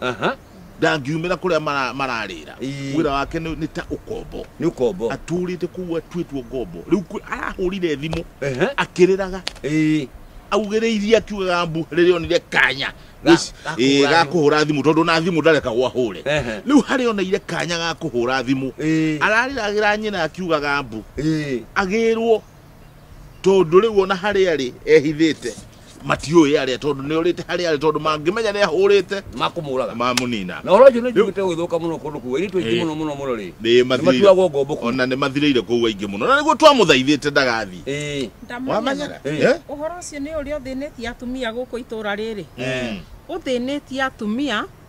Aha. ndangiumĩra kũrĩa mara- mararĩra Ii. wĩra wake nĩ nĩ ta ũkombo nĩ ũkombo atũrĩte kũu atuĩtwo ngombo rĩu kwĩ- arahũrire thimũ Ehe. akĩrĩraga Ĩĩ. augĩrĩirie akiugaga mbu rĩrĩa onire kanya Ga- Wĩci- ga ĩĩ, kũhũra ga thimũ. kũhũra thimũ tondũ na thimũ ndareka gwahũre Ehe. rĩu harĩa oneire kanya ga kũhũra thimũ Ĩĩ. ararĩragĩra nyina akiugaga mbu Ĩĩ. agĩrwo tondũ rĩu ona harĩa rĩ ehithĩte matiũĩ arĩa tondũ nĩ orĩte harĩ arĩa tondũ mangĩmenya nĩ ahũrĩte makũmũraga mamũnina na ũronjũ nĩ njiguĩte gũthũka mũno kũndũ kũu airĩtu aingĩ mũno mũno mũno rĩ nĩ matuagwo ngombo kũu ona nĩ mathirĩire kũu aingĩ mũno na nĩguo twamũthaithĩte ndagathiĩ ĩĩ wamenya Eh. Eh? ũhoro ũcio nĩ ũrĩa ũthĩnĩtie atumia gũkũ itũra rĩrĩ Mm. ũthĩnĩtie atumia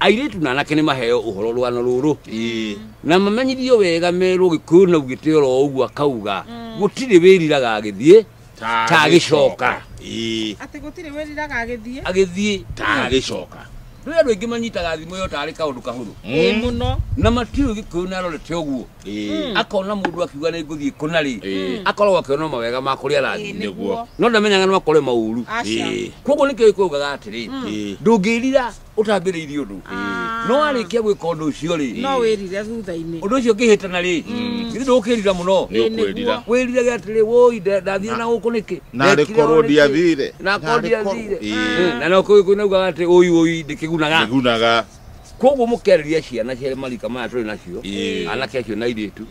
airĩtu na anake nĩ maheo ũhoro rwano rũrũ Ĩĩ. na mamenyithio wega merwo gĩkũyũ na ugĩte oro ũguo akauga gũtirĩ wĩriraga agĩthiĩ Ta Ta agĩcoka. Ĩĩ. atĩ gũtirĩ wĩriraga agĩthiĩ agĩthiĩ Ta agĩcoka. rĩu andũ aingĩ manyitaga thimũ ĩyo tarĩ kaũndũ kahũthũ ĩ Mm. mũno na matiũĩ gĩkũyũ nĩ arorete ũguo Ĩĩ. akona mũndũ akiuga nĩ ngũthiĩ kũna rĩ Ĩĩ. akoragwo akĩona mawega ma kũrĩa Ĩ, arathiĩ nĩguo no ndamenyaga no akore maũru aca Ĩĩ. koguo nĩkĩo gĩkũyũ gĩkaga atĩrĩ Ĩĩ. ndũngĩrira ũtambĩrĩirie ũndũ no warĩkia gwĩka ũndũ ũcio rĩ no wĩrire thutha-inĩ ũndũ ũcio ũngĩhĩtana rĩ githĩ ndũkĩrira mũno nĩ ũkwĩrira wĩrirage atĩrĩ woi ndathire na gũkũ nĩkĩ narĩ Ndekire korwo ũũ nĩkĩ? ndiathire na korwo ndiathire Ĩĩ. na no kũu kũinaugaga atĩ ũi ũi ndĩkĩgunaga igunaga koguo mũkerĩria ciana cia marika maya tũrĩ nacio Ĩĩ. anake acio na airĩtu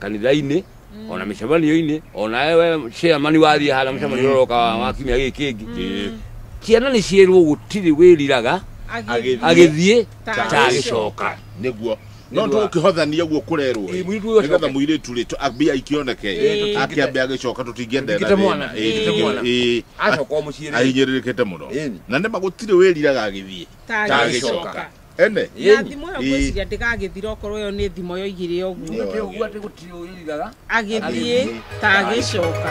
kanitha-inĩ Mm. ona mĩcemanio-inĩ ona ewe chairman wathiĩ hana mũcemanio ũroka wa- wa kiumia gĩkĩ kĩngĩ Mm. ciana nĩ ciĩrwo gũtirĩ wĩriraga Agĩthiĩ. agĩthiĩ Ta ta agĩcoka. agĩcoka nĩguo no Nĩguo. tũkĩhothania guo kũrerwo Ĩ, mũirĩtu ũyũ nĩgetha acoke. mũirĩtu rĩ tũ- ambia ikĩoneke Ĩ, tũtingĩte- akĩambia agĩcoka tũtingĩenda ena tũtingĩte mwana, thĩna. Ĩ, tũtingĩte mwana. ĩ, acoka o mũciĩ rĩ. ahinyĩrĩrĩkĩte mũno Ĩni. na nĩma gũtirĩ wĩriraga agĩthiĩ Ta Ta agĩcoka. agĩcoka. ene na thimo ĩyo Ĩĩ. ngwĩciria ndĩgagĩthira okorwo ĩyo nĩ thimo yoigire ũguo Nĩ ũndũ ũguo atĩ gũtirĩ ũrĩrigaga agĩthiĩ Agĩthiĩ. ta agĩcoka